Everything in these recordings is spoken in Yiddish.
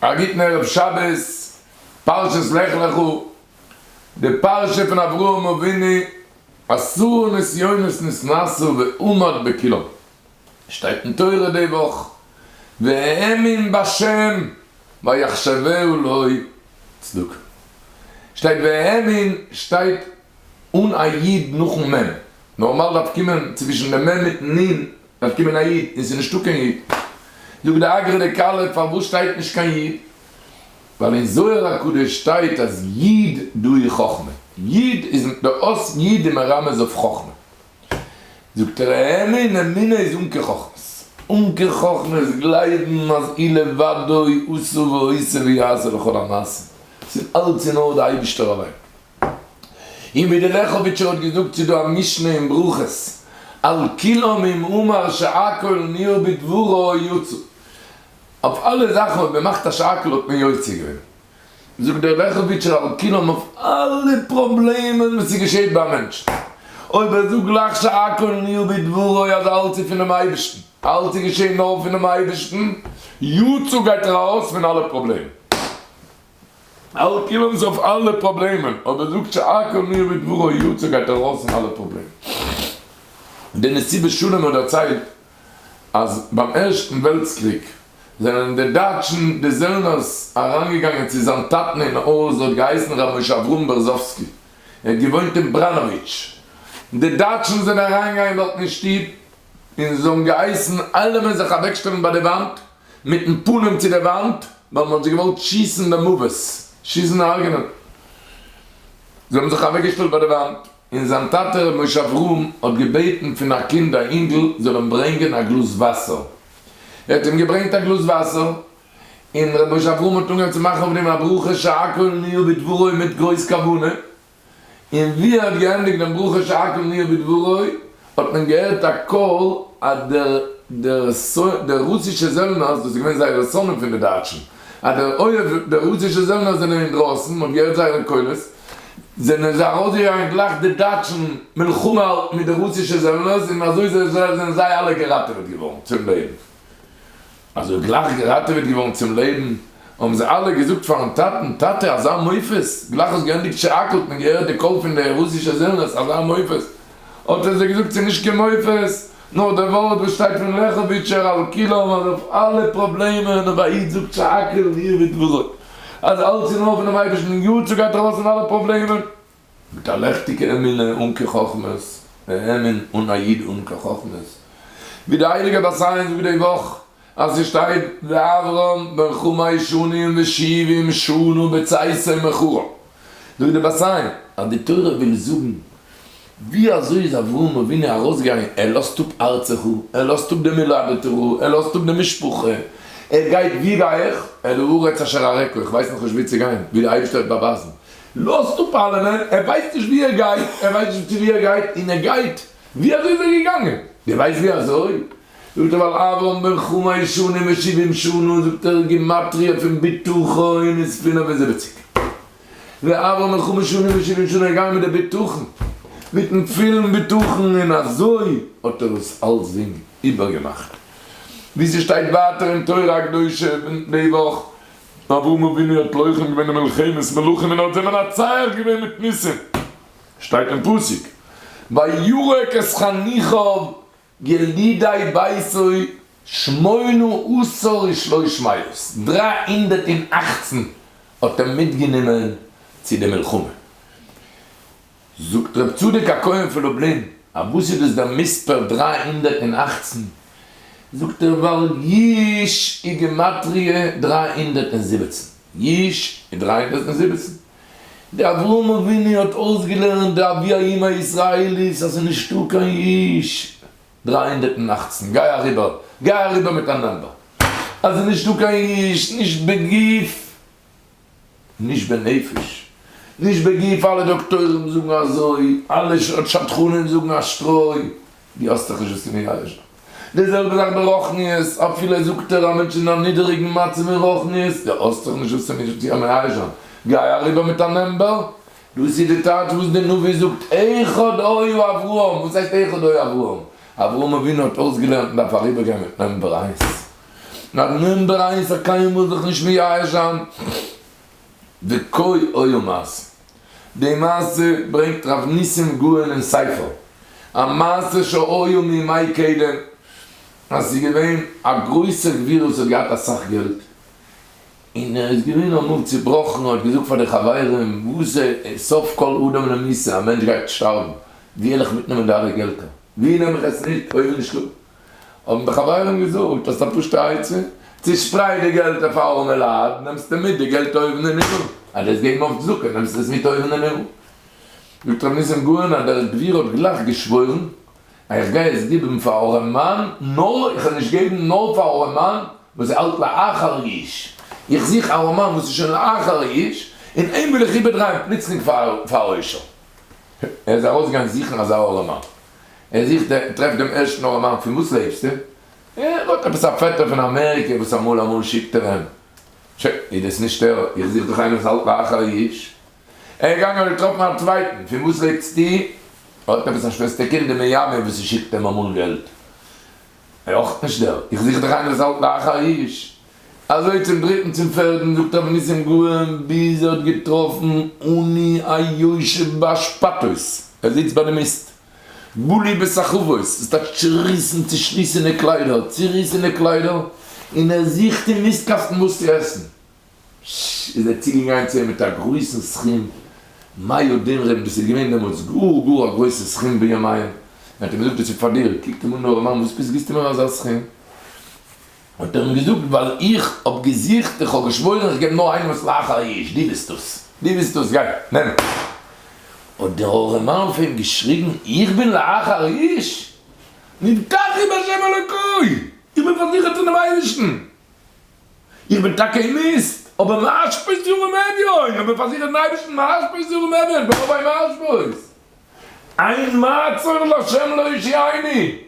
א גוטן ערב שבת, פרשת לך לך, די פרשה פון אברהם אבינו, עשרה נסיונות נתנסו ועמד בקלא, שטייט אין תורה די וואך, והאמין בה' ויחשבהו לאוי צדקה, שטייט והאמין שטייט אן א י' נאכן מ', נארמאל דארף קומען צווישן די מ' מיטן נ' דארף קומען א איד און ס'איז נישטא קיין איד. זאגט די אגרא דקהלה פארוואס שטייט נישט קיין איד? ווייל אין זוהר הקדוש שטייט אז איד דא איז חכמה. איד איז די אות איד איז מרמז אויף חכמה. זאגט ער האמין אמינא איז עמקי חכמות. עמקי חכמה איז גלייבן אז אי לבדו עשה ועושה ויעשה לכל המעשים. ס'איז אלץ אין נאר די אייבישטער אליין. און ווי דער לעכאוויטשער האט געזאגט ס'איז דא א משנה אין ברכות על כל עמים אמר שהכל נהיה בדברו יצא אויף אלע זאכן האט מען מאכט א שאקל האט מען יוצא געווען זאגט דער לעכאוויטשער על כל עמים אויף אלע פראבלעמען וואס ס'געשעהט ביי א מענטש אויב ער זאגט גלייך שהכל נהיה בדברו אז אלץ איז פונעם אייבערשטן אלץ איז געשעהן נאר פונעם אייבערשטן יצא גייט ער ארויס פון אלע פראבלעמען. אלקי לוז אויף אלע פראבלעמען, אבער זאגט שהכל נהיה בדברו יצא גייט ארויס פון אלע פראבלעמען. די מסיבת שלום האט דערציילט אז ביים ערשטן וועלטס קריג זענען די דייטשן די זעלנערס אריינגעגאנגען צו זיין טאטן אין הויז האט געהייסן ר' משה אברהם בערזאווסקי ער האט געוואוינט אין בראנאוויטש די דייטשן זענען אריינגעגאנגען דארטן אין שטוב און זיי האבן געהייסן אלעמען זיך אוועקשטעלן ביי די וואנט מיטן פנים צו די וואנט, ווייל מען האט זיי געוואלט שיסן למוות, שיסן הרג'נען. זיי האבן זיך אוועקגעשטעלט ביי די וואנט, און זיין טאטע ר' משה אברהם האט געבעטן פון א קינד א אינגל זאל אים ברענגען א גלאז וואסער. ער האט אים געברענגט א גלאז וואסער, און ר' משה אברהם האט אנגעהויבן צו מאכן אויף דעם א ברכה שהכל נהיה בדברו מיט גרויס כוונה, און ווי ער האט געענדיגט דעם ברכה שהכל נהיה בדברו האט מען געהערט א קול אז דער דער דער רוסישע זעלנער, דאס איז געווען זייער שונא פון די דייטשן, אז דער אויב די רוסישע זעלנער זענען אינדרויסן, מען האט געהערט זייערע קולות, זענען זיי ארויסגעגאנגען גלייך די דייטשן מלחמה האלטן מיט די רוסישע זעלנערס און אזוי זענען זיי אלע געראטעוועט געווארן צום לעבן. אַז ער איז גלײַך געראַטעוועט געוואָרן צום לעבן, האָבן זיי אַלע געזאָגט פֿאַרן טאַטן, טאַטע, אַזאַ מופֿת! גלײַך האָסט געענדיקט שאַקלט מען געהערט די קול פֿון די רוסישע זעלנערס, אַזאַ מופֿת! האָט ער זיי געזאָגט, ס'איז נישט קיין מופֿת, נאָר דער וואָרט, וואָס שטייט פֿון לעכאָוויטשער אַל-כּולם, אַז אויף אַלע פּראָבלעמען, אויף אַ איד, זאָגט שאַקל, און איר ווידבורות, אַז אַלץ איז נאָר פֿונעם אייבערשטן, און גאָט, צו גײַט אַרויס פֿון אַלע פּראָבלעמען. מיט א לעכטיגע אמונה אן קיין חכמות, והאמין אן א איד אן קיין חכמות. ווי די הייליגע בת עין זאגט די וואך, אז עס שטייט ואברהם בן חמש שנים ושבעים שנה בצאתו מחרן, זאגט די בת עין אז די תורה וויל זאגן, ווי אזוי איז אברהם אבינו ארויסגעגאנגען, ער לאזט אפ ארצך, ער לאזט אפ די מולדתך, ער לאזט אפ די משפחה, ער גייט ווי גיי איך, אל הארץ אשר אראך, איך ווייס נאכנישט וואו צו גיין, ווי די אייבערשטער וועט באווייזן. לאזט אפ אלעמען, ער ווייסט נישט ווי ער גייט, ער ווייסט נישט צו ווי ער גייט, און ער גייט, ווי אזוי איז ער געגאנגען? דו ווייסט ווי אזוי? זאגט ער ווייל אברהם בן חמש שנים ושבעים שנה, זאגט ער גימטריא פון בטחון איז פינף און זיבעציג, ווען אברהם בן חמש שנים ושבעים שנה איז געגאנגען מיט די בטחון, מיטן פילן בטחון, און אזוי האט ער עס אלסדינג איבערגעמאכט, ווי ס'שטייט ווייטער אין תורה הקדושה, אברהם אבינו האט לוחם געווען אין מלחמת מלכים און האט זיי מנצח געווען מיט ניסים, שטייט אין פסוק ויורק את חניכיו ילידי ביתו שמונה עשר ושלוש מאות, דרײַ הונדערט און אַכצן האט ער מיטגענומען צו די מלחמה. זאגט ר' צדוק הכהן פון לובלין, א וואס איז דאס דער מספר דרײַ הונדערט און אַכצן? זאגט ער, ווייל יש איז גימטריא דרײַ הונדערט און זיבעצן, יש איז דרײַ הונדערט און זיבעצן, די אברהם אבינו האט אויסגעלערנט די אבי האומה הישראלית אז ס'איז נישטא קיין יש דרײַ הונדערט און אַכצן, גיי אריבער, גיי אריבער מיט א נאמבער, אז ס'איז נישטא קיין יש נישט בגוף. נישט בנפש, נישט בגוף, אלע דאקטוירים זאגן אזוי, אלע שדכנים זאגן א שטרוי, דו האסטעך נישט וואס צו מייאש זיין. די זעלבע זאך ברוחניות, אפילו זאגט ער א מענטש אין א נידעריגן מצב אין רוחניות, דו האסטעך נישט וואס צו מייאש זיין, גיי אריבער מיט א נעמבעל. דאס איז די טייטש וואס די נביא זאגט אחד היה אברהם, וואס הייסט אחד היה אברהם? אברהם אבינו האט אויסגעלערנט מען דארף אריבערגיין מיט נעמבער איינס, נאר נומבער איינס האט קיינמאל זיך נישט מייאש זיין וקוי אויו מעשה. די מעשה ברענגט ר' ניסים גאון אין ספר המעשה שהיו מימי קדם אז ס'איז געווען א גרויסע גביר וואס האט געהאט אסאך געלט און ער איז געווען אמאל צובראכן האט געזאגט פאר די חברים וואס זע סוף כל אדם למעשה א מענטש גייט שטארבן ווי עלעך מיטנעמען די אלע געלטער ווי נעם איך עס מיט אויב נישט דא. האבן די חברים געזאגט האסט א פשוטע עצה? צושפרייט די געלט אויף ארעמע לייט נעמסטו מיט די געלט אויבן אין הימל, אדער'ס געבן אויף צדקה נעמסטו עס מיט אויבן אין הימל. זאגט רבי ניסים גאון אז דער גביר האט גלייך געשוואוירן אז איך גיי עס גיבן פאר ארעמען נאר איך וועל נישט געבן נאר פאר ארעמען וואס איז אלט לאחר יש, איך זוך ארעמען וואס איז שוין לאחר יש און אים וויל איך איבערדרייען פלוצלינג פאר עושר. ער איז ארויסגעגאנגען זוכן אזא ארעמען. ער זוכט ער טרעפט דעם ערשטן אור המים פון וואס לעבסטו? ער האט עפעס א פעטער פון אמעריקע וואס אמאל אמאל שיקט ער אים. ש. איז דאס נישט ער? איך זוך דאך איינער וואס האלט ביי אחר היש. ער איז געגאנגען האט געטראפן א צווייטן, פון וואס לעבסטו? ער האט עפעס א שוועסטער קינד אין מיאמי וואס ס'שיקט אים אמאל געלט. ער אויך נישט ער? איך זוך דאך איינער וואס האלט ביי אחר היש. אַזױ צום דריטן, צום פֿערטן, זאָגט אָבער ניסים גאָון, ביז ער האָט געטראָפֿן אני אַ יושבֿ באַשפּאַטעס, ער זיצט בײַ די מיסט, בלי בסחבֿות, דאָס טײַטש, צעריסן, צעשליסענע קלײדער, צעריסענע קלײדער, און ער זוכט אין מיסטקאַסטן װאָס צו עסן, ש, איז ער צוגעגאַנגען צו אים מיט אַ גרױסן סכום מאה דינרים, דאָס איז געװען דעמאָלט גאָר, גאָר אַ גרױסער סכום בימיהם, ער האָט אים געזאָגט, דאָס איז פֿאַר דיר, קוקט אים אָן דער אָרעמאַן, װאָס פֿאַרװאָס גיסטו מיר אַזאַ סכום? האט ער אים געזאגט ווייל איך האב געזוכט, איך האב געשוואוירן איך געב נאר איינעם וואס לאך א איש, דו ביסט דאס, דו ביסט דאס, גיי, נעם. האט דער ארעמאן אויף אים געשריגן, איך בין לאך א איש? נבטחתי בהשם אלוקי! איך בין פארזיכערט פונעם אייבערשטן! איך בין טאקע אין מיסט, אבער מאשפוס ירום אביון! איך בין פארזיכערט אין אייבערשטן, מאשפוס ירום אביון! איך בין אויף איין מאשפוס! אין מה צריך לה' להושיעני!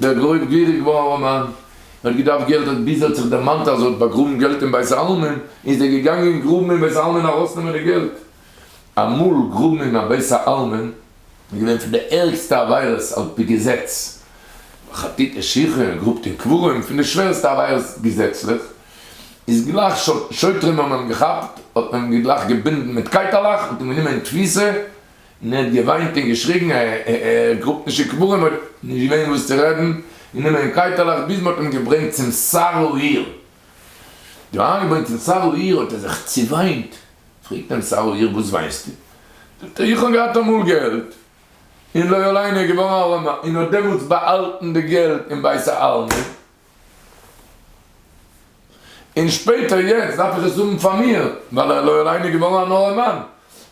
דער גרויב גיריג ווארער מאן האט געדארפט געלט האט ביז ער האט זיך דערמאנט אז ער האט באגראבן געלט אין בית העלמין איז ער געגאנגען גראבן אין בית העלמין ארויסנעמען די געלט. אמאל גראבן אין א בית העלמין איז געווען פון די ערגסטע עבירות על פי געזעץ, חטאת נשיכות, גראבט אין קברים, פון די שווערסטע עבירות געזעצליך, איז גלייך שוטרים האבן אים געכאפט האט מען אים גלייך געבינדן מיט קייטעלעך און אים גענומען אין תפיסה, און ער האט געוויינט און געשריגן, ער גראבט נישט אין קברים, האט נישט געווען וואס צו רעדן, און אים אין קייטעלעך, ביז מ'האט אים געברענגט צום סארל העיר. דא איינגעברענגט אין סארל העיר האט ער זיך צעוויינט, פרעגט אים סארל העיר, וואס וויינסטו? זאגט ער, איך האב געהאט אמאל געלט, און לא עלינו געווארן ארעמער, און האט דעמאלטס באהאלטן די געלט אין בית העלמין, און שפעטער יעצט דארף איך עס האבן פאר מיר ווייל ער לא עלינו איז געווארן אן ארעמאן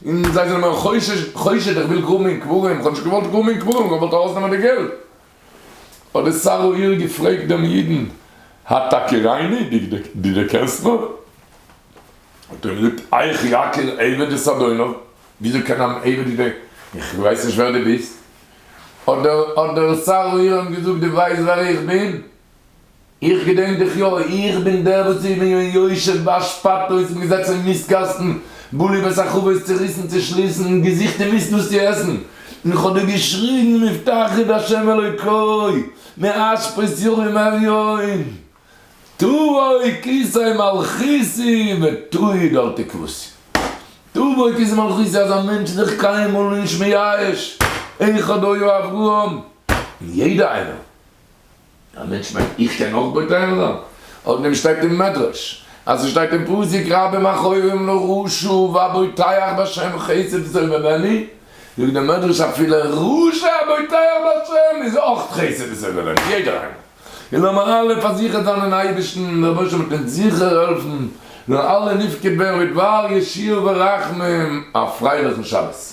און זיי זענען מיר חושד חושד איך וויל גראבן אין קברים איך האב נישט געוואלט גראבן אין קברים איך האב געוואלט ארויסנעמען די געלט האט די שר העיר געפרעגט דעם אידן התכירני די די דערקענסט מיר? האט ער אים געזאגט איך יקיר עבד את אדוניו וויאזוי קען אן עבד די איך ווייס נישט ווער די ביסט האט דער האט דער שר אוירם געזאגט דו ווייסט ווער איך בין? איך געדענק דיך יא, איך בין דער וואס איך בין געווען יושב באשפט אויסן געזעצן אין מיסט קאסטן בלי בית החבית צוריסן צושליסן און געזוכט אין מיסט וואס צו עסן און איך האב דיר געשריגן מבטח את ה' אלוקי מאשפות ימים עד יום תבואי כסאי מלכותי' ותהי' דלתי כבשי. תבואי כסאי מלכותי' אז א מענטש איז זיך קיינמאל נישט מייאש, איך אדער יו אברהם, און יעדע איינער, א מענטש מיינט איך קען אויך בוטח זיין, אויף דעם שטייט אין מדרש, אז ס'שטייט אין פסוק רבים מכאובים לרשע והבוטח בהשם חסד עשו ממני, זאגט דער מדרש אפילו רשע הבוטח בהשם איז אויך חסד עשו ממני, יעדער איינער. און לאמיר אלע פארזיכערט זיין אין אייבערשטן און דער רבושע וועט אונז זיכער העלפן און אלע נפקד ווערן מיט וואר ישיר ורחמים א פרייליכן שבת.